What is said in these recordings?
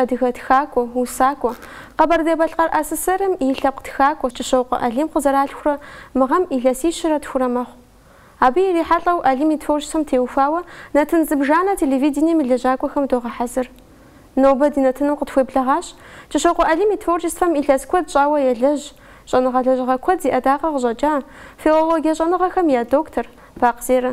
Адыгэ тхакӏуэ, усакӏуэ. Къэбэрдей-Балъкъэр АССР-м и лъэпкъ тхакӏуэ Кӏыщокъуэ Алим къызэралъхурэ мы гъэм илъэсищэрэ тхурэ мэхъу. Абы ирихьэлӏэу Алим и творчествэм теухуауэ нэтын зыбжанэ телевидением и лэжьакӏуэхэм догъэхьэзыр. Нобэ ди нэтыным къытхуеблэгъащ, Кӏыщокъуэ Алим и творчествэм илъэс куэд щӏауэ елэжь, щӏэныгъэ лэжьыгъэ куэд зи ӏэдакъэ къыщӏэкӏа, филологие щӏэныгъэхэм я доктор, Бакъ Зерэ.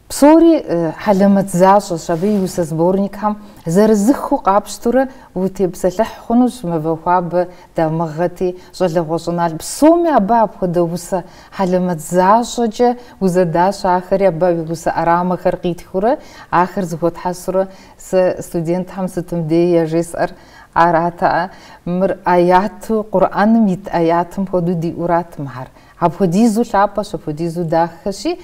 Псори хьэлэмэт защӏэщ, абы и усэ сборникхэм зырызыххэу къапщтурэ утепсэлъыхь хъунущ Мывэ хуабэ, Дамыгъэти, Щӏалэгъуэ щӏыналъэ псоми абы апхуэдэ усэ хьэлэмэт защӏэкӏэ узэдащ, ахэри абы и усэ ӏэрамэхэр къитхыурэ ахэр зэхуэтхьэсурэ. Сэ студентхэм сытым дей яжесӏэр арат, мыр ӏэяту, Къурӏэным ит ӏэятым хуэдэу диӏурат мыхьэр. Апхуэдизу лъапӏэщ, апхуэдизу дахэщи,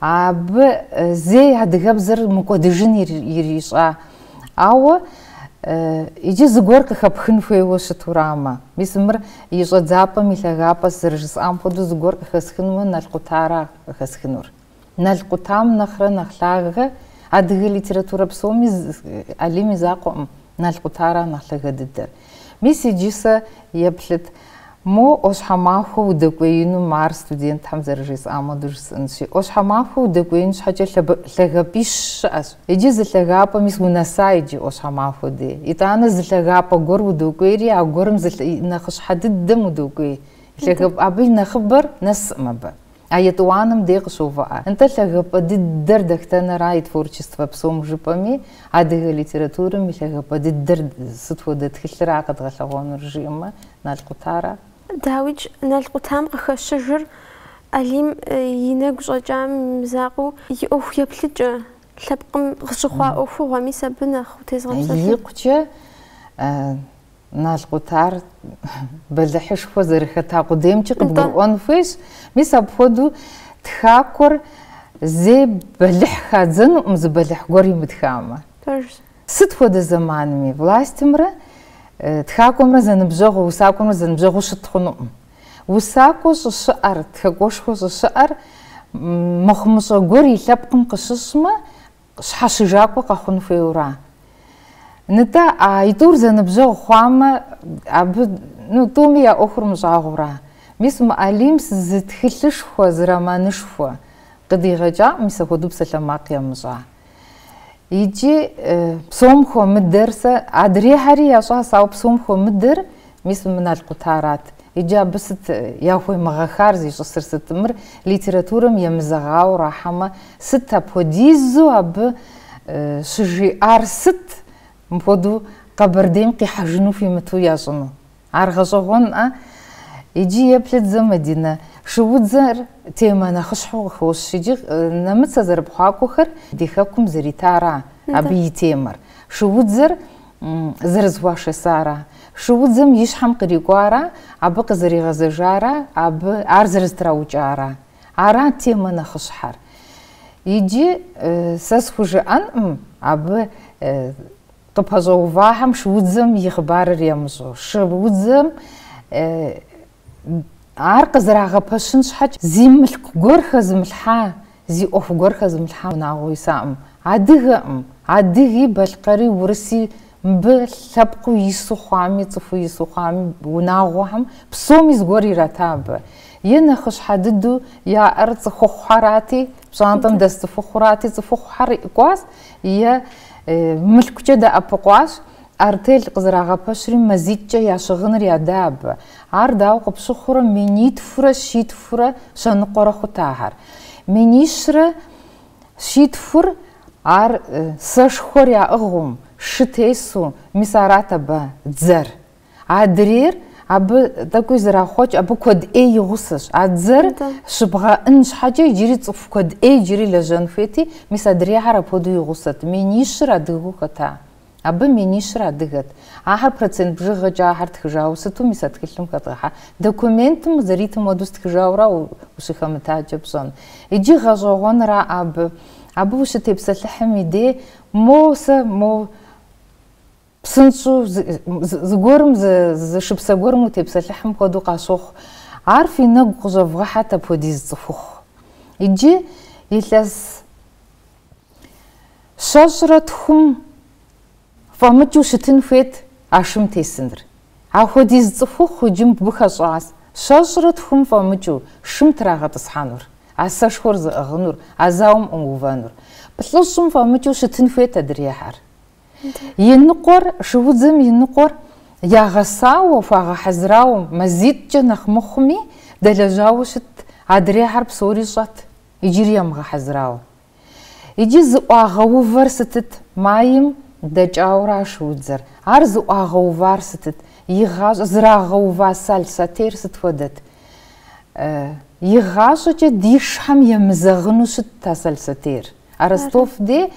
абы зэи адыгэбзэр мыкӏуэдыжын ирищӏа. Ауэ иджы зыгуэр къыхэпхын хуейуэ щытурамэ, мис мыр и щӏэдзапӏэм и лъагапӏэщ, зэрыжысӏам хуэдэу, зыгуэр къыхэсхынумэ Нал къутара къыхэсхынур. Нал къутам нэхърэ нэхъ лъагэ адыгэ литературэ псоми Алим и закъуэкъым Нал къутара нэхъ лъагэ дыдэр. Мис иджы сэ еплъыт, мо ӏуащхьэмахуэ удэкӏуеинум ар студентхэм зэрыжесӏам хуэдэу жысӏэнщи, ӏуащхьэмахуэ удэкӏуеин щхьэкӏэ лъагапӏищ щыӏэщ. Иджы зы лъагапӏэ мис унэса иджы ӏуащхьэмахуэ дей. Итӏанэ зы лъагапӏэ гуэр удокӏуейри, а гуэрым зы нэхъыщхьэ дыдэм удокӏуей. Лъагапӏэ абы и нэхъыбэр нэсӏым абы. А етӏуанэм дей къыщоувыӏэ. Нтӏэ лъагапӏэ дыдэр дахтэнэра и творчествэ псом жыпӏэми, адыгэ литературэм и лъагапӏэ дыдэр сыт хуэдэ тхылъра къэдгъэлъэгъуэнур жиӏэмэ, Нал къутара. Дауикӏ, Нал къутам къыхэщыжыр Алим и нэгу щӏэкӏам и закъуэу и ӏуэху еплъыкӏэ, лъэпкъым къыщыхъуа ӏуэхугъуэ, мис абы нэхъ утезгъэпсэлъу. Икъукӏэ. Нал къутар бэлыхьышхуэ зэрыхэта къудеймкӏи къыбгурыӏуэн хуейщ. Мис апхуэдэу тхакӏуэр зэи бэлыхь хадзэнукъым зы бэлыхь гуэр имытхамэ. Пэжщ. Сыт хуэдэ зэманми властьымрэ тхакӏуэмрэ зэныбжьэгъуу, усакӏуэмрэ зэныбжьэгъуу щыт хъунукъым. Усакӏуэ щӏыщыӏэр, тхакӏуэшхуэ щӏыщыӏэр мыхъумыщӏэ гуэр и лъэпкъым къыщыщӏмэ, Щхьэщыжакӏуэ къэхъун хуейуэра? Нтӏэ, а итӏур зэныбжьэгъу хъуамэ, абы, ну, тӏуми я ӏуэхур мыщӏагъуэура? Мис мы Алим зы тхылъышхуэ, зы романышхуэ къыдигъэкӏакъым, мис апхуэдэу псалъэмакъ ямыщӏа. Икӏи, псом хуэмыдэр сэ, адрейхьэри ящӏащ, ауэ псом хуэмыдэр Мис мы Нал къутарат. Иджы абы сыт яхуемыгъэхар зищӏысыр сыт? Мыр литературэм емызэгъауэ рахьэмэ, сыт апхуэдизу абы щыжиӏар? Сыт мыпхуэдэу Къэбэрдейм къихьэжыну хуимыту ящӏыну? Ар гъэщӏэгъуэнӏэ? Иджы еплъыт зэ Мадинэ. Шуудзэр темэ нэхъыщхьэу къыхощ. Иджы нэмыцэ зэрыпхъуакӏуэхэр ди хэкум зэритара абы и темэр. Шуудзэр Зэрызэхуашэсара? Шуудзэм и щхьэм кърикӏуара, абы къызэригъэзэжара, абы ар зэрызэтраукӏара? Арат темэ нэхъыщхьэр. Иджы сэ схужыӏэнкъым абы къыпэщӏэувахэм шуудзэм и хъыбарыр ямыщӏэу. Шуудзэм Ар къызэрагъэпэщын щхьэкӏэ, зи мылъку гуэр хэзымылъхьа, зи ӏуэху гуэр хэзымылъхьа унагъуэ исакъым. Адыгэкъым. Адыги, балъкъэри, урыси мыбы лъэпкъыу ису хъуами, цӏыхуу ису хъуами, унагъуэхэм псоми зыгуэр ирата абы. Е нэхъыщхьэ дыдэу яӏэр цӏыхухъухьэрати, пщӏантӏэм дэс цӏыхухъурати, цӏыхухъухьэр кӏуащ, е мылъкукӏэ дэӏэпыкъуащ, Артель къызэрагъэпэщри, мазитӏкӏэ я щыгъыныр яда абы. Ар дауэ къыпщыхъурэ, минитхурэ щитхурэ щэныкъуэрэ хъут ахэр. Минищрэ щитхур, ар сэшхуэр яӏыгъыу, шы тесу, мис арат абы дзэр. Адрейр абы тӏэкӏуи зэрахъуэкӏ, абы куэд ӏей и гъусэщ. А дзэр щыбгъэӏын щхьэкӏэ иджыри цӏыху куэд ӏей иджыри лэжьэн хуейти, мис адрейхэр апхуэдэу и гъусэт. Минищыр адыгэу хэта? Абы минищыр адыгэт. Ахэр процент бжыгъэкӏэ ахэр тхыжауэ щыту мис а тхылъым хэдгъэхьа? Документым зэритым хуэдэу стхыжауэра ущыхэмытакӏэ пщӏэн? Иджы гъэщӏэгъуэнра абы? Абы ущытепсэлъыхьым и дей, мо сэ, мо псынщӏу зыгуэрым, зы шыпсэ гуэрым утепсэлъыхьым хуэдэу къащохъу. Ар фи нэгу къыщӏэвгъэхьэт апхуэдиз цӏыхухъу. Иджы илъэс. Щэщӏрэ тхум фӏэмыкӏыу щытын хуейт а шым тесыныр. Апхуэдиз цӏыхухъу иджы мыбы хэщӏащ, щэщӏрэ тхум фӏэмыкӏыу шым трагъэтӏысхьэнур, а сэшхуэр зыӏыгъынур, а зауэм ӏумыувэнур. Плӏыщӏым фӏэмыкӏыу щытын хуейт адрейхьэр. И ныкъуэр, шуудзэм и ныкъуэр ягъэсауэ, хуагъэхьэзырауэ, мазитӏкӏэ нэхъ мыхъуми, дэлэжьауэ щытт, адрейхьэр псори щӏэт, иджыри ямыгъэхьэзырауэ. Иджы зыӏуагъэувэр сытыт? Майм дэкӏауэра шуудзэр? Ар зыӏуагъэувар сытыт? И гъащӏэ зрагъэува Сал сотейр сыт хуэдэт? Игъащӏэкӏэ ди шыхэм емызэгъыну щытт а Сал сотейр. А Ростов дей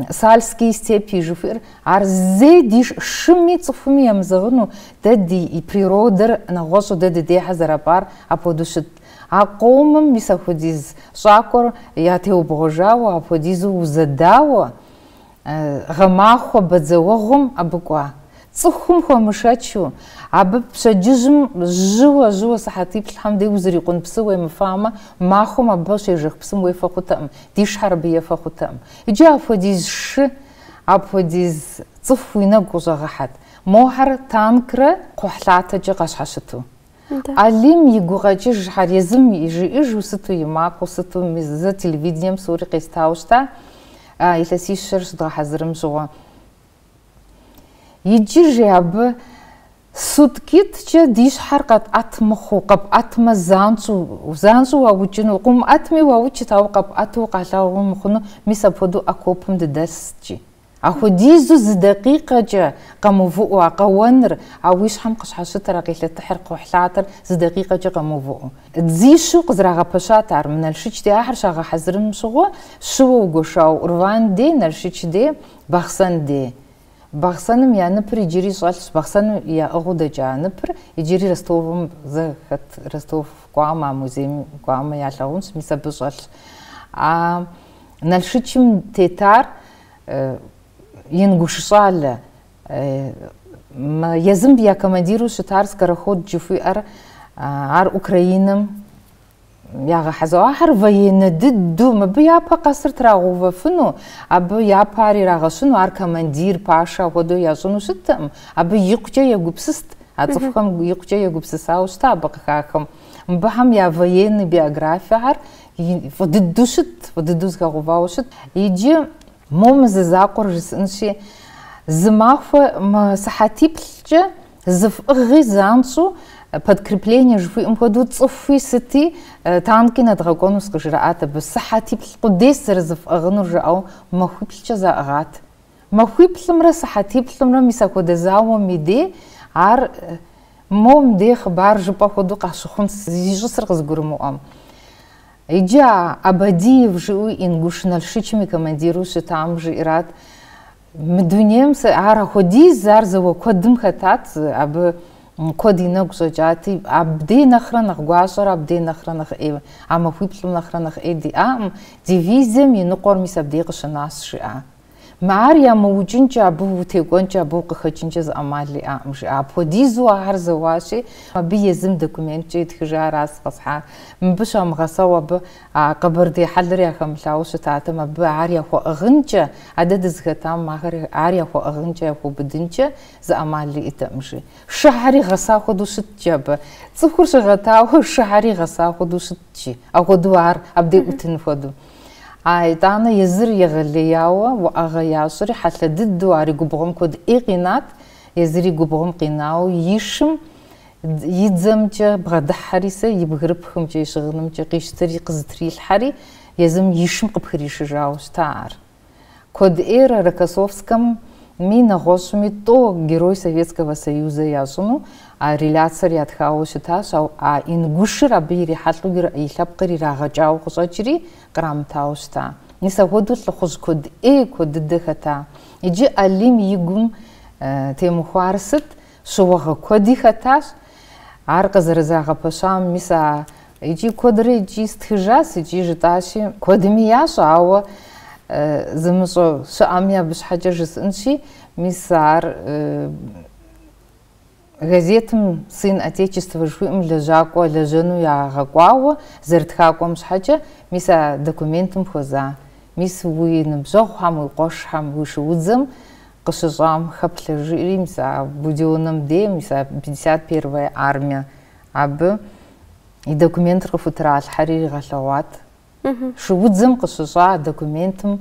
Сальские степи жыхуиӏэр, ар зэи ди шыми цӏыхуми емызэгъыну, дэ ди природэр нэгъуэщӏу дэ дыдейхэр зэрапӏар апхуэдэу щытт. А къомым мис апхуэдиз щӏакӏуэр ятеубгъуэжауэ, апхуэдизу узэдауэ, гъэмахуэ бадзэуэгъуэм абы кӏуа. Цӏыхум хуэмышэчу, абы пщэдджыжьым жьыуэ-жьыуэ сыхьэтиплӏхэм дей узрикъун псы уемыфамэ, махуэм абы щежэх псым уефэ хъутэкъым, ди шыхэр абы ефэ хъутэкъым. Иджы апхуэдиз шы, апхуэдиз цӏыху уи нэгу къыщӏэгъэхьэт, мохьэр танкрэ кхъухьлъатэкӏэ къащхьэщыту. Алим и гукъэкӏыжхэр езым жиӏыжу сыту и макъыу, сыту зэ телевидением псори къестауэ щыта, илъэсищэр щыдгъэхьэзырым щыгъуэ. Иджы, жи абы, суткитӏкӏэ ди щхьэр къэтӏэт мыхъуу, къэпӏэтмэ занщӏэу, занщӏэу уаукӏыну, къыумыӏэтми уаукӏырт, ауэ къэпӏэту укъалъагъуу мыхъуну, мис апхуэдэу окопым дыдэст, жи. Апхуэдизу зы дакъикъэкӏэ къэмыувыӏэу а къэуэныр, а уи щхьэм къыщхьэщытыр, а къелъэтыхьыр, кхъухьлъатэр зы дакъикъэкӏэ къэмыувыӏэу. Дзищу къызэрагъэпэщат ар мы Налшыч дей ахэр щагъэхьэзырым щыгъуэ, щыуэ угуэшауэ Урван дей, Налшыч дей, Бахъсэн дей. Бахъсэным я ныпыр иджыри щӏэлъщ, Бахъсэным яӏыгъыу дэкӏа ныпыр иджыри Ростовым зэ хэт, Ростов кӏуамэ, а музейм кӏуамэ ялъагъунщ, мис абы щӏэлъщ. А. Налшычым тетар ингуш щӏалэ, езым я командиру щытар Скороход жыхуиӏэр, ар Украинэм ягъэхьэзыру. Ахэр военнэ дыдэу, мыбы япэ къэсыр трагъэувэфыну, абы япэ ар ирагъэщыну, ар командир, пашэ апхуэдэу ящӏыну щыттэкъым. Абы икъукӏэ егупсыст, а цӏыхухэм икъукӏэ егупсысауэ щыта абы къыхахым. Мыбыхэм я военный биографиехэр Фӏы дыдэу щыт, фӏы дыдэу зыхэгъэувауэ щыт. Иджы мо мы зы закъуэр жысӏынщи, зы махуэ сыхьэтиплӏкӏэ зыфӏыгъи занщӏэу подкрепление жыхуиӏэм хуэдэу цӏыхуи сыти э, танки нэдгъэкӏуэнус къыжраӏат абы. Сыхьэтиплӏ къудейс зэрызыфӏыгъынур жаӏэу махуиплӏкӏэ заӏыгъат. Махуиплӏымрэ сыхьэтиплӏымрэ мис апхуэдэ зауэм и дей ар мом дей хъыбар жыпӏэ хуэдэу къащыхъун зищӏысыр къызгурымыӏуэм. Иджы а Абадиев жыӏэу ингуш налшычым и командиру щытам жиӏэрат, Мы дунейм сэ ар ахуэдиз, ар зауэ куэдым хэтат, абы куэд и нэгу щӏэкӏати, абдей нэхърэ нэхъ гуащӏэр, абдей нэхърэ нэхъ ӏей, а махуиплӏым нэхърэ нэхъ ӏей диӏакъым, дивизием и ныкъуэр мис абдей къыщынащ, жиӏа. Мы ар ямыукӏынкӏэ, абы утекӏуэнкӏэ, абы укъыхэкӏынкӏэ зы ӏэмал иӏакъым, жиӏа. Апхуэдизу ахэр зэуащи, абы езым документкӏэ итхыжаращ къэсхьар. Мыбы щамыгъэсэу абы а Къэбэрдей хьэлыр яхэмылъауэ щытатэм, абы ар яхуэӏыгъынкӏэ, адэ дызыхэтам ахэр ар яхуэӏыгъынкӏэ, яхуэбыдынкӏэ зы ӏэмал иӏэтэкъым, жи. Шыхьэри гъэса хуэдэу щыткӏи абы. Цӏыхур щыгъэтауэ шыхьэри гъэса хуэдэу щыткӏи. Апхуэдэу ар абдей ӏутын хуэдэу. А итӏанэ езыр егъэлеяуэ уӏэгъэ ящӏри, хьэлъэ дыдэу ар и губгъуэм куэд ӏей къинат, езыр и губгъуэм къинауэ и шым и дзэмкӏэ бгъэдыхьэри сэ, и бгырыпхымкӏэ, и щыгъынымкӏэ къищтэри къызытрилъхьэри, езым и шым къыпхришыжауэ щыта ар. Куэд ӏейрэ Рокоссовскэми, нэгъуэщӏми тӏо Герой Советского Союза ящӏыну а реляциер ятхауэ щытащ, ауэ а ингушыр абы ирихьэлӏэу и лъэпкъыр ирагъэкӏауэ къыщӏэкӏри, кърамытауэ щыта. Мис ахуэдэу лӏыхъужь куэд ӏей куэд дыдэ хэта. Иджы Алим и гум темыхуар сыт? Щыуагъэ куэди хэтащ ар къызэрызагъэпэщам, мис а икӏи куэдрэ икӏи стхыжащ икӏи жытӏащи, куэдми ящӏэ, ауэ зымыщӏэ щыӏэми абы щхьэкӏэ жысӏынщи, мис ар газетым Сын Отечества жыхуиӏэм лэжьакӏуэ лэжьэну ягъэкӏуауэ зэрытхакӏуэм щхьэкӏэ, мис а документым хуэза. Мис уи ныбжьэгъухэм, уи къуэшхэм, уи шуудзэм Къыщыщӏам хэплъэжри, мис а Будённэм дей, мис а пятьдесят первая армие абы и документыр къыхутралъхьэри иригъэлъэгъуат. Шуудзэм къыщыщӏа а документым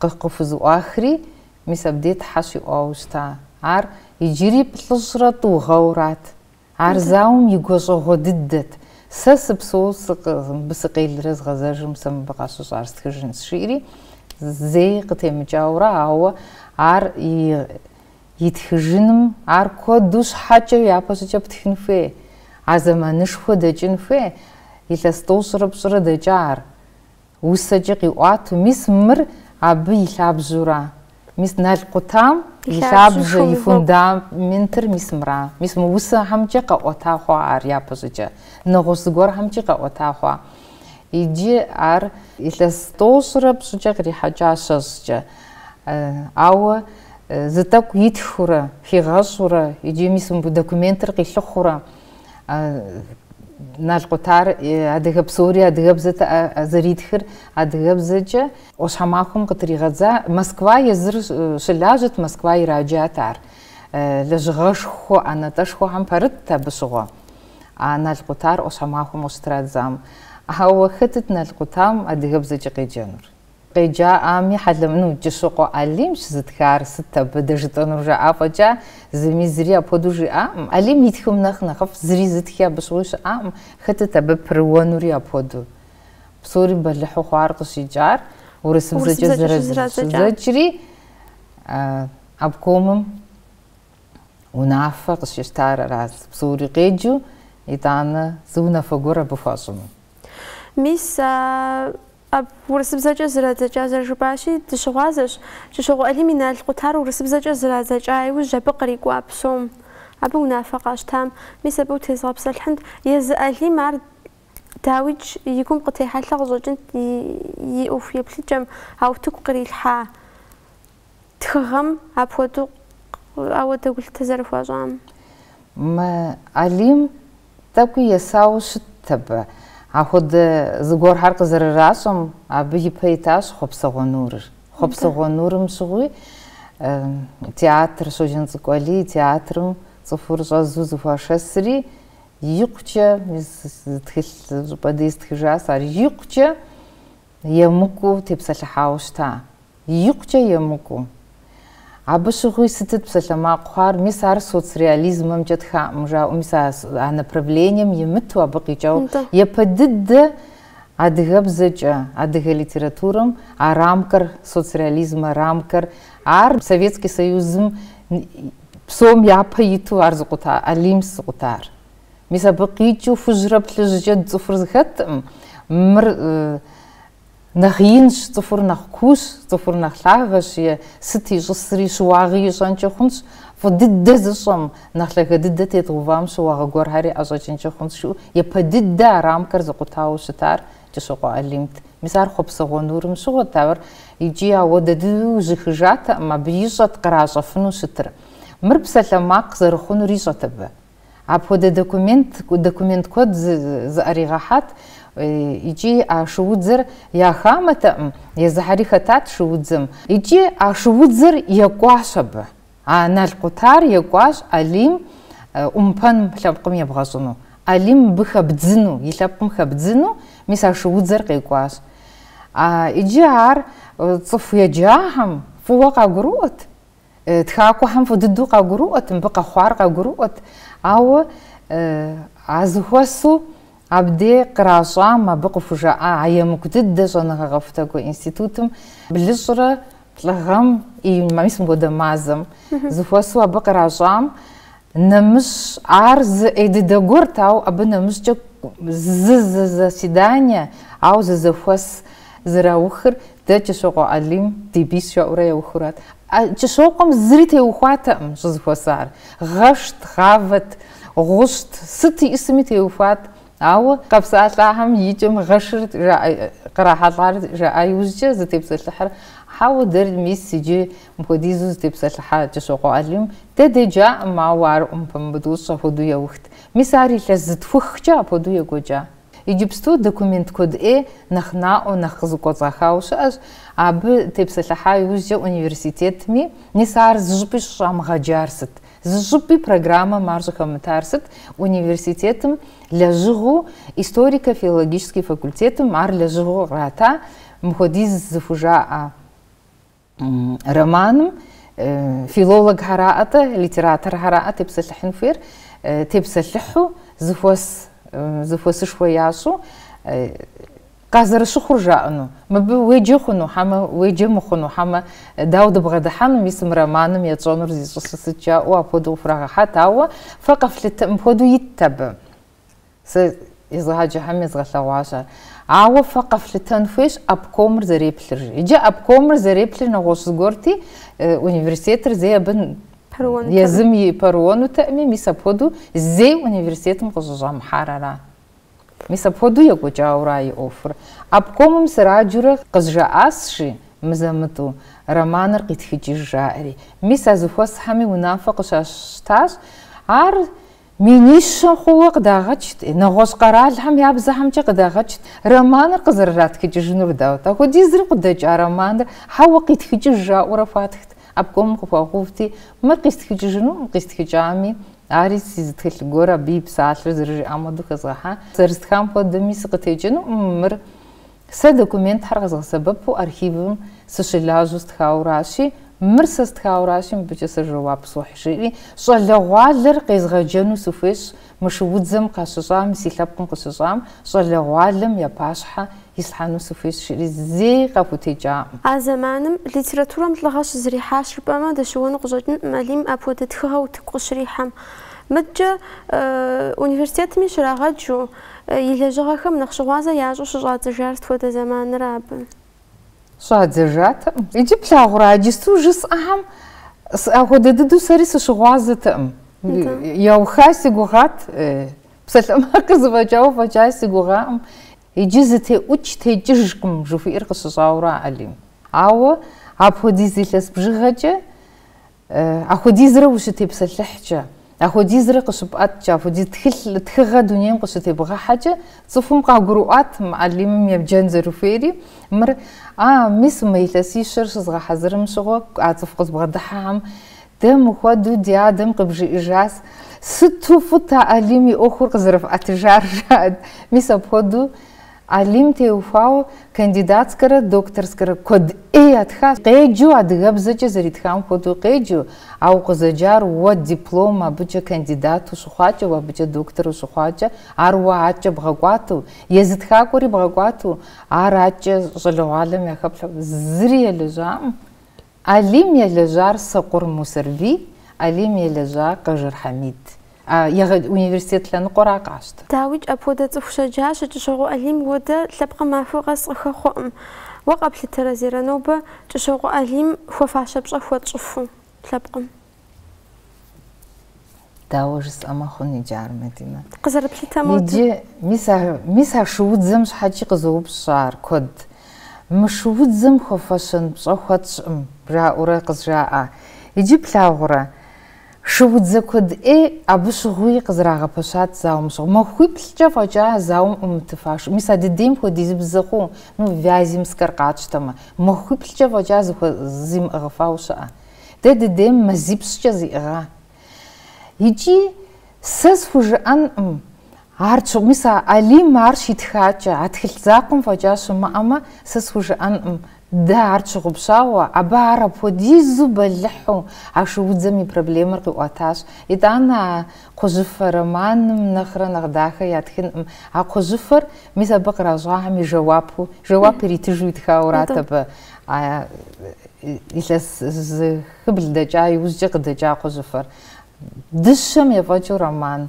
къы- къыхузыӏуахри, мис абдей тхьэ щиӏуауэ щыта. Ар иджыри плӏыщӏрэ тӏу гъэурат. Ар зауэм и гуащӏэгъуэ дыдэт. Сэ сыпсэу сыкъы, мыбы сыкъелрэ згъэзэжым сэ мыбы къащыщӏар стхыжынщ, жиӏэри зэи къытемыкӏаурэ, ауэ ар и, итхыжыным ар куэду щхьэкӏэ япэ щӏыкӏэ птхын хуей, а зэманышхуэ дэкӏын хуей, илъэс тӏощӏрэ пщӏырэ дэкӏа ар. Усэкӏэ къиӏуату, мис мыр абы и лъабжьура? Мис Нал къутам и лъабжьэ, и фундаментыр мис мыра? Мис мы усэхэмкӏэ къэӏуэта хъуа ар япэщӏыкӏэ? Нэгъуэщӏ зыгуэрхэмкӏи къэӏуэта хъуа? Иджы ар илъэс тӏощӏрэ пщӏыкӏэ кърихьэкӏа щэщӏкӏэ. Ауэ зы тӏэкӏу итхыурэ, хигъэщӏурэ, иджы мис мыбы документыр къилъыхъуурэ? Нал къутар адыгэ псори адыгэбзэт зэритхыр адыгэбзэкӏэ. ӏуащхьэмахуэм къытригъэдза Москва езыр щылажьэт, Москва ираджат ар. Лэжьыгъэшхуэ ӏэнатӏэшхуэхэм пэрытт абы щыгъуэ а Нал къутар ӏуащхьэмахуэм къыщытрадзам. Ауэ хэтыт Нал къутам адыгэбзэкӏэ къеджэнур? Къеджаӏами, хьэлэмэ, ну, Кӏыщокъуэ Алимщ зытхар, сыт абы дэ жытӏэнур жаӏа фӏэкӏа, зыми зыри апхуэдэу жиӏакъым. Алим и тхым нэхъ нэхъыфӏ, зыри зытхи абы щыгъуи щыӏакъым. Хэтыт абы пэрыуэнури апхуэдэу. Псори бэлыхьу хъуар къыщикӏар, урысыбзэкӏэ зрадзэкӏри, обкомым унафэ къыщищтар арат, псори къеджу, итӏанэ зы унафэ гуэр абы хуащӏыну. Мис, Абы урысыбзэкӏэ зрадзэкӏа зэрыжыпӏащи, дыщыгъуазэщ. Кӏыщокъуэ Алим и нал къутар урысыбзэкӏэ зрадзэкӏа иужь абы кърикӏуа псом, абы унафэ къащтам, мис абы утезгъэпсэлъхьынт, езы Алим ар дауикӏ и гум къытехьэлъэ къыщӏэкӏынт и ӏуэху еплъыкӏэм, а утыку кърилъхьа тхыгъэм апхуэдэу ауэдэ гулъытэ зэрыхуащӏам. Мы Алим тӏэкӏуи есауэ щытт абы. Ахуэдэ зыгуэрхьэр къызэрыращӏэм, абы и пэ итащ Хъуэпсэгъуэ Нурыр. Хъуэпсэгъуэ Нурым щыгъуи театр, Щоджэнцӏыкӏу Алий театрым цӏыхур щӏэзу зыхуашэсри, икъукӏэ, зы тхылъ щӏыпӏэ дей стхыжас ар, икъукӏэ, Емыкӏуу тепсэлъыхьауэ щыта? Икъукӏэ емыкӏуу. Абы щыгъуи сытыт псалъэмакъ хъуар, мис ар соцреализмэмкӏэ тхакъым жаӏэу, мис а а направлением имыту абы къикӏауэ. Япэ дыдэ адыгэбзэкӏэ, адыгэ литературэм а рамкэр, соцреализмэ рамкэр, ар Советский Союзым псом япэ иту ар зыкъута, Алимс зыкъутар. Мис абы къикӏыу хужьрэ плъыжькӏэ цӏыхур зыхэткъым. Мыр нэхъ инщ, цӏыхур нэхъ куущ, цӏыхур нэхъ лъагэщ е сыт ищӏысри щыуагъи ищӏэнкӏи хъунщ, фӏы дыдэ зыщӏэм, нэхъ лъагэ дыдэ тедгъэувам щыуагъэ гуэрхьэри ӏэщӏэкӏынкӏи хъунщ, жиӏэу япэ дыдэ а рамкэр зыкъутауэ щытар Кӏыщокъуэ Алимт. Мис ар Хъуэпсэгъуэ нурым щыгъуэт, ауэ ар икӏи ауэдэ дыдэу зыхищӏатэкъым, абы ищӏэт къращӏэфыну щытыр. Мыр псалъэмакъ зэрыхъунур ищӏэт абы. Апхуэдэ документ документ куэд зыӏэригъэхьат икӏи а шуудзэр я хамэтэкъым, езыхьэри хэтат шуудзэм. Икӏи а шуудзэр екӏуащ абы. А Нал къутар екӏуащ Алим ӏумпэм лъэпкъым ебгъэщӏыну, Алим мыбы хэбдзыну, и лъэпкъым хэбдзыну, мис а шуудзэр къекӏуащ. Икӏи ар цӏыху еджахэм фӏыуэ къагурыӏуэт. Тхакӏуэхэм фӏы дыдэу къагурыӏуэт, мыбы къэхъуар къагурыӏуэт, ауэ а зыхуэсу абдей къращӏам абы къыхужаӏа а емыкӏу дыдэ щӏэныгъэ къэхутакӏуэ институтым блыщӏрэ плӏы гъэм и ма мис мыхуэдэ мазэм зыхуэсу абы къращӏам Нэмыщӏ ар зы ӏей дыдэ гуэрт, ауэ абы нэмыщӏкӏэ зы зы заседание, ауэ зы зэхуэс зэраухыр дэ Кӏыщокъуэ Алим ди бийщ жаӏэурэ яухурат. Кӏыщокъуэм зыри теухуатэкъым щызыхуэсар. Гъэшт, гъавэт, гъущӏт, сыт иӏысми теухуат. Ауэ къэпсалъахэм и кӏэм гъэшыр кърахьэлӏар жаӏа иужькӏэ зытепсэлъыхьыр, Хьэуэ, дэр мис иджы мыпхуэдизу зытепсэлъыхьа Кӏыщокъуэ Алим дэ деджакъым, ауэ ар ӏумпэмбытӏущ апхуэдэу яухт. Мис ар илъэс зытхухкӏэ апхуэдэу екӏуэкӏа. Иджыпсту документ куэд ӏей нэхъ наӏуэу, нэхъ къызыкӏуэцӏахауэ щыӏэщ, абы тепсэлъыхьа иужькӏэ университетми мис ар зыщӏыпӏи щӏыщӏамыгъэджар сыт? Зы щӏыпӏи программэм ар щӏыхэмытар сыт? Университетым лэжьыгъэу, историко-филологический факультетым ар лэжьыгъэу ирата, мыхуэдиз зыхужаӏэ романым филологхэраӏэ-тӏэ, литераторхэраӏэ тепсэлъыхьын хуейр, тепсэлъыхьу, зыхуэс, зыхуэсышхуэ ящӏу, Къазэрыщыхъур жаӏэну, мыбы уеджэ хъуну хьэмэ, уеджэ мыхъуну хьэмэ, дауэ дыбгъэдыхьэну, мис мы романым етщӏэнур зищӏысу сыт жаӏэу апхуэдэу хурагъэхьат, ауэ фэ къэфлъытэ, мыпхуэдэу итт абы. Сэ езыгъэджыхьэми езгъэлъэгъуащ ар. Ауэ фэ къэфлъытэн хуейщ обкомыр зэреплъыр. Иджы обкомыр зэреплъыр нэгъуэщӏ зыгуэрти, университетыр зэи абы пэрыуэнутэкъым, езыми пэрыуэнутэкъыми, мис апхуэдэу зэи университетым къыщӏыщӏэмыхьар ара? Мис апхуэдэу екӏуэкӏауэра и ӏуэхур? Обкомым сраджэурэ къызжаӏасщи, мызэ-мытӏу, романыр къитхыкӏыж, жаӏэри. Мис а зыхуэсхьэми унафэ къыщащтащ. Ар минищэ хъууэ къыдагъэкӏт, нэгъуэщӏ къэралхэм я бзэхэмкӏэ къыдагъэкӏт романыр къызэрыратхыкӏыжынур, дауэ-тӏэ, апхуэдизри къыдэкӏа романыр хьэуэ къитхыкӏыж жаӏэурэ хуатхт. Обкомым къыхуэхъувти, мыр къистхыкӏыжынукъым, къистхыкӏами, ари си зы тхылъ гуэр абы и псалъэр зэрыжиӏам хуэдэу хэзгъэхьа, зэрыстхам хуэдэми сыкъытекӏынукъым, мыр сэ документхэр къэзгъэсэбэпу архивым сыщылажьэу стхауращи, мыр сэ стхауращи, мыбыкӏэ сэ жэуап сохь, жиӏэри, щӏалэгъуалэр къезгъэджэну сыхуейщ, Мы шуудзэм къащыщӏам, си лъэпкъым къыщыщӏам, щӏалэгъуалэм я пащхьэ ислъхьэну сыхуейщ, жиӏэри зэи къахутекӏакъым. А зэманым литературэм лӏыгъэ щызэрихьащ жыпӏэмэ, дыщыуэну къыщӏэкӏынкъым Алим апхуэдэ тхыгъэ утыку къыщрихьэм. Мыдкӏэ университетми щрагъэджу, и лэжьыгъэхэм нэхъ щыгъуазэ ящӏу щыщӏадзэжар сыт хуэдэ зэманра абы. Щӏадзэжатэкъым. Иджы плъагъурэ, иджысту жысӏэхэм апхуэдэ дыдэу сэри сыщыгъуазэтэкъым. Яухай си гугъат, псалъэмакъыр зэфӏэкӏауэ фӏэкӏа си гугъакъым. Иджы зытеӏукӏ текӏыжкъым жыхуиӏэр къыщыщӏауэра Алим. Ауэ апхуэдиз илъэс бжыгъэкӏэ Апхуэдизрэ ущытепсэлъыхькӏэ, апхуэдизрэ къыщыпӏэткӏэ, апхуэдиз тхыгъэ дунейм къыщытебгъэхьэкӏэ, цӏыхум къагурыӏуат мы Алимым ебджэн зэрыхуейри, мыр, а, мис мы илъэсищэр щызгъэхьэзырым щыгъуэ, а цӏыху къызбгъэдыхьэхэм, дэ мыхуэдэу ди адэм къыбжиӏыжащ, сыту фӏыт а Алим и ӏуэхур къызэрыфӏэтыжар, жаӏэрт, мис апхуэдэу, Алим теухуауэ кандидатскэрэ докторскэрэ куэд ӏей ятхащ. Къеджэу адыгэбзэкӏэ зэритхам хуэдэу къеджэу, а укъызэджар уэ диплом абыкӏэ кандидатэу ущыхъуакӏэ, уэ абыкӏэ доктору ущыхъуакӏэ, ар уэ адкӏэ бгъэкӏуатэу, езы тхакӏуэри бгъэкӏуатэу, ар адкӏэ щӏалэгъуалэм яхэплъхьэу зыри елэжьакъым. Алим елэжьар Сокъур Мусэрбий, Алим елэжьар Къэжэр Хьэмид. Егъэджэ университет лъэныкъуэра къащтэ. Дауикӏ, апхуэдэ цӏыху щэджащэ, Кӏыщокъуэ Алим хуэдэ лъэпкъым махуэ къэс къыхэхъуэкъым. Уэ къэплъытэрэ, Зерэ, нобэ, Кӏыщокъуэ Алим хуэфащэ пщӏэ хуэтщӏыфу лъэпкъым? Дауэ жысӏэмэ хъун иджы ар, Мадинэ? Къызэрыплъытэ модэ. Иджы, мис а, мис а шуудзэм щхьэкӏи къызоупщӏ ар, куэд. Мы шуудзэм хуэфэщэн пщӏэ хуэтщӏкъым, жаӏэурэ къызжаӏэ. Иджы плъагъурэ, шуудзэ куэд ӏей абы щыгъуи къызэрагъэпэщат зауэм щыгъуи. Махуиплӏкӏэ фӏэкӏа а зауэм ӏумытыфа шу, мис адыдейм хуэдизи бзэхъуу, ну, Вяземскэр къатщтэмэ, махуиплӏкӏэ фӏэкӏа зимыӏыгъыфауэ щыӏэ. Дэ дыдейм мазипщӏкӏэ зиӏыгъа? Икӏи сэ схужыӏэнкъым, ар щыгъ, мис а Алим ар щитхакӏэ, а тхылъ закъуэм фӏэкӏа щымыӏэмэ, сэ схужыӏэнкъым, дэ ар тщыгъупщауэ, абы ар апхуэдизу бэлыхьу а шуудзэм и проблемэр къиӏуэтащ. Итӏанэ а Кхъужьыфэ романым нэхърэ нэхъ дахэ ятхынкъым а кхъужьыфэр, мис абы къращӏахэм и жэуапу, жэуап иритыжу итхаурат абы, а илъэс зыхыбл дэкӏа иужькӏэ къыдэкӏа кхъужьыфэр. Дыщэм ефӏэкӏыу роман.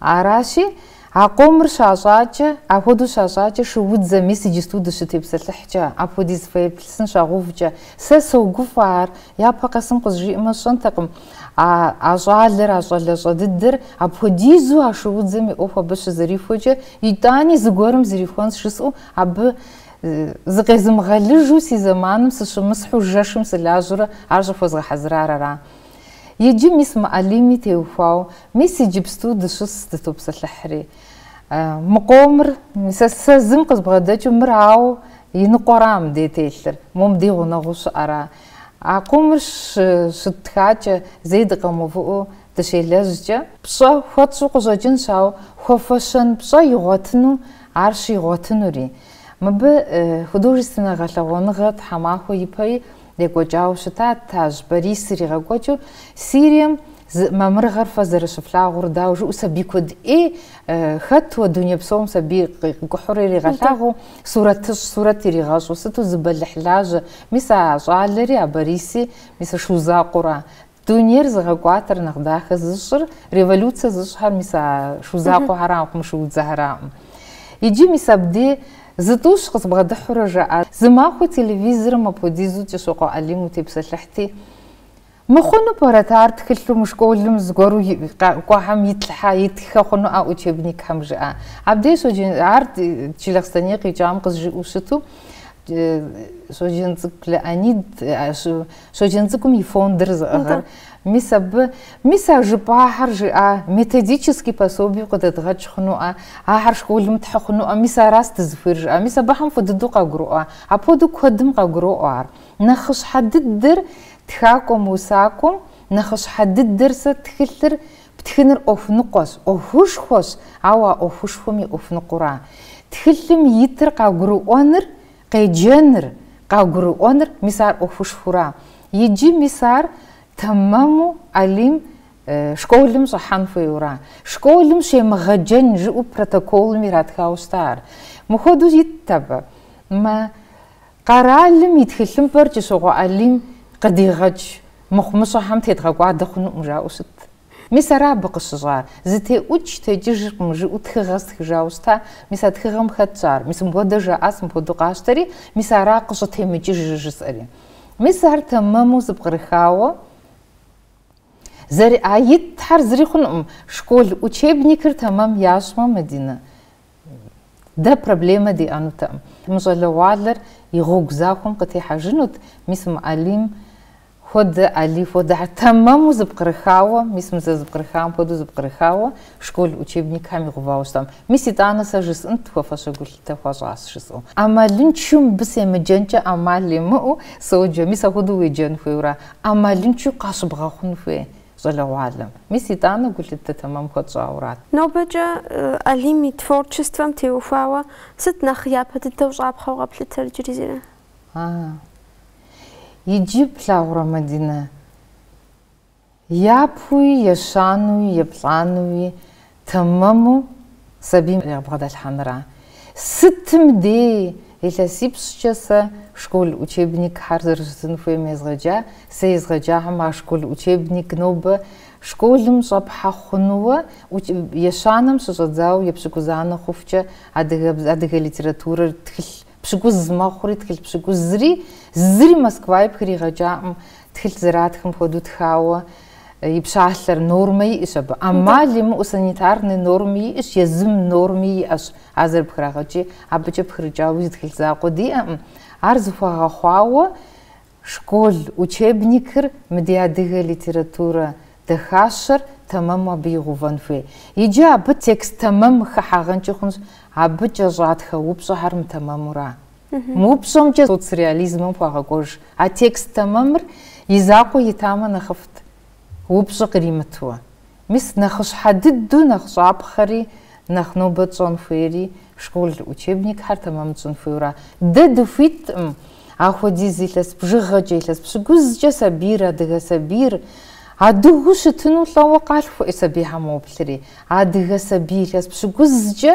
Аращи, А къомыр щащӏакӏэ, апхуэдэу щащӏакӏэ шуудзэм, мис иджысту дыщытепсэлъыхькӏэ, апхуэдиз фэеплъысын щагъэувкӏэ. Сэ согуфӏэ ар, япэ къэсым къызжиӏэмэ сщӏэнтэкъым, а а щӏалэр, а щӏалэщӏэ дыдэр апхуэдизу а шуудзэм и ӏуэху абы щызэрихуэкӏэ, итӏани зыгуэрым зэрихуэнщ жысӏэу абы зыкъезымыгъэлыжу си зэманым сыщымысхьу жэшым сылажьэурэ ар щӏыхуэзгъэхьэзырар ара. Иджы мис мы Алими теухуауэ, мис иджыпсту дыщыс дытопсэлъыхьри. Мы къомыр, мис сэ зым къызбгъэдэкӏыу, мыр ауэ и ныкъуэра мыдей телъыр, мом ди гъунэгъуу щыӏэра? А къомыр щы, щыттхакӏэ, зэи дыкъэмыувыӏэу дыщелэжькӏэ? Пщӏэ хуэтщӏу къыщӏэкӏынщ, ауэ хуэфэщэн пщӏэ игъуэтыну ар щигъуэтынури. Мыбы художественнэ гъэлъэгъуэныгъэ тхьэмахуэ ипэи Екӏуэкӏауэ щытат Тажь Борис иригъэкӏуэкӏыу Сирием и мамырыгъэр фэ зэрыщыфлъагъур, дауэ жыӏэу сабий куэд ӏей хэт уэ дуней псом сабий къикӏухьурэ иригъэлъагъуу, сурэтыщӏ, сурэт иригъэщӏу, сыту зы бэлыхь лажьэ, мис а щӏалэри, а Бориси, мис а шу закъуэра, Дунейр зыгъэкӏуатэр нэхъ дахэ зыщӏыр революция зыщӏхэр мис а шу закъуэхэракъым, шуудзэхэракъым. Иджы мис абдей зы тӏущ къызбгъэдыхьурэ жаӏа. Зы махуэ телевизорым апхуэдизу Кӏыщокъуэ Алим утепсэлъыхьти, Мыхъуну пӏэрэт ар тхылъу мы школым зыгуэру кӏуэхэм итлъхьэ, итххэ хъуну а учебникхэм? жаӏа. Абдей Щоджэн, ар Джылахъстэней къикӏам къызжиӏэу щыту, Щоджэнцӏыкӏу Леонид Щоджэнцӏыкӏум и фондыр зыӏыгъыр. Мис абы, мис а жыпӏахэр жиӏа методический пособиеу къыдэдгъэкӏ хъунуӏэ, ахэр школым тхьы хъунуӏэ, мис аращ дызыхуейр жиӏа. Мис абыхэм фӏы дыдэу къагуроӏуэ. Апхуэдэу куэдым къагуроӏуэ ар. Нэхъыщхьэ дыдэр тхакӏуэм, усакӏуэм нэхъыщхьэ дыдэр сэ тхылъыр птхыныр ӏуэху ныкъуэщ, ӏуэхушхуэщ, ауэ а ӏуэхушхуэм и ӏуэху ныкъуэра. Тхылъым итыр къагурыӏуэныр Къеджэныр, къагурыӏуэныр, мис ар ӏуэхушхуэра. Иджы мис ар тэмэму Алим школым щӏыхьэн хуейуэра. Школым щемыгъэджэн жыӏэу протоколым иратхауэ щыта ар. Мыхуэдэу итт абы. Мы къэралым и тхылъымпӏэр Кӏыщокъуэ Алим къыдигъэкӏ мыхъумыщӏэхэм тедгъэкӏуадэ хъунукъым жаӏэу щытт. Мис ара абы къыщыщӏар? Зытеӏукӏ текӏыжыркъым, жыӏэу тхыгъэ стхыжауэ щыта, мис а тхыгъэм хэтщ ар, мис мыпхуэдэ жаӏащ, мыпхуэдэу къащтэри, мис ара къыщӏытемыкӏыжыр жысӏэри. Мис ар тэмэму зэпкърыхауэ зэры, а итхьэр зыри хъунукъым, школ учебникыр тэмэм ящӏмэ, Мадинэ, Дэ проблемэ диӏэнутэкъым. Мы щӏалэгъуалэр и гъуэгу захуэм къытехьэжынут, мис мы Алим хуэдэ, Али хуэдэ, ар тэмэму зэпкърыхауэ, мис мы зэзыпкърыхам хуэдэу зэпкърыхауэ школ учебникхэм игъувауэ щытам. Мис итӏанэ сэ жысӏынт хуэфащэ гулъытэ хуащӏащ жысӏэу. ӏэмалыншэу мыбы семыджэнкӏэ ӏэмал имыӏэу соджэ, мис апхуэдэу уеджэн хуейуэ ара? ӏэмалыншэу къащыбгъэхъун хуей. Щӏалэгъуалэм. Мис итӏанэ гулъытэ тэмэм хуэтщӏауэрат. Нобэкӏэ Алим и творчествэм теухуауэ сыт нэхъ япэ дыдэу щӏапхъэу къэплъытэр иджыри зыри? Ага. Иджы плъагъурэ Мадинэ? Япэуи, ещанэуи, еплӏанэуи Тэмэму сабийм егъэ бгъэдэлъхьэныра? Сытым дей илъэсипщӏкӏэ сэ школ учебникхэр зэрыщытын хуейм езгъэджа, сэ езгъэджахэм а школ учебник нобэ школым щӏэпхьэ хъунууэ, ещанэм щыщӏэдзауэ епщыкӏузанэ хъухукӏэ адыгэ литературэр тхылъ Пщыкӏуз мэхъури тхылъ пщыкӏузри, зыри Москваи пхригъэкӏакъым, тхылъ зэратхэм хуэдэу тхауэ и пщалъэр, нормэ иӏэщ абы. ӏэмал имыӏэу санитарнэ нормэ иӏэщ, езым норми иӏэщ, а зэрыпхрагъэкӏи, абыкӏэ пхрыкӏауи зы тхылъ закъуэ диӏэкъым. Ар зэхуэгъэхъуауэ Школ учебникыр мы ди адыгэ литературэ дахащэр тэмэму абы игъувэн хуей. Иджы абы текст тэмэм хыхьэгъэнкӏи хъунщ, абы кӏэщӏатхэ упщӏэхэр мытэмэмура? Мы упщӏэмкӏэ соцреализмэм хуагъэкӏуэж а текст тэмэмыр и закъуэ итамэ нэхъыфӏт. упщӏэ къримытуэ. Мис нэхъыщхьэ дыдэу нэхъ щӏапхъэри, нэхъ нобэ тщӏэн хуейри школ учебникхэр тэмэм тщӏын хуейуэра? Дэ дыхуиткъым ахуэдиз илъэс бжыгъэкӏэ, илъэс пщыкӏузкӏэ сабийр, адыгэ сабийр. Адыгэу щытыну лӏэуэ къалъхуэ, э, сабийхьэм уоплъри. Адыгэ сабий илъэс пщыкӏузкӏэ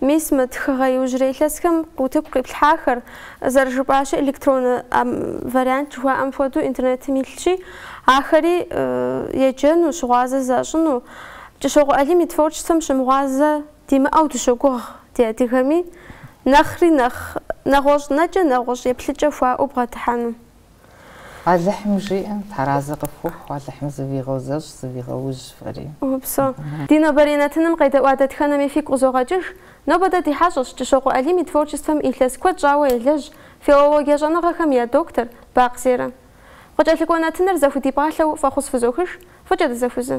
Мис мы тхыгъэ иужьрей илъэсхэм утыку къиплъхьахэр, зэрыжыпӏащи, электроннэ вариант жыхуаӏэм хуэдэу интернетым илъщи, ахэри еджэну, щыгъуазэ защӏыну. Кӏыщокъуэ Алим и творчествэм щымыгъуазэ димыӏэу дыщогугъ ди адыгэми, нэхъри нэхъ нэгъуэщӏ нэкӏэ, нэгъуэщӏ еплъыкӏэ хуаӏэу бгъэдыхьэну. Алыхьым жиӏэ, Тхьэр арэзы къыфхухъу, Алыхьым зывигъэузэщӏ, зывигъэужь фэри. Упсэу. Ди нобэрей нэтыным къедэӏуа дэтхэнэми фигу къызогъэкӏыж. Нобэ дэ ди хьэщӏэщ Кӏыщокъуэ Алим и творчествэм илъэс куэд щӏауэ елэжь, филологие щӏэныгъэхэм я доктор, Бакъ Зерэ. Къыкӏэлъыкӏуэ нэтыныр зэхудипӏалъэу фӏэхъус фызохыж, фӏыкӏэ дызэхузэ.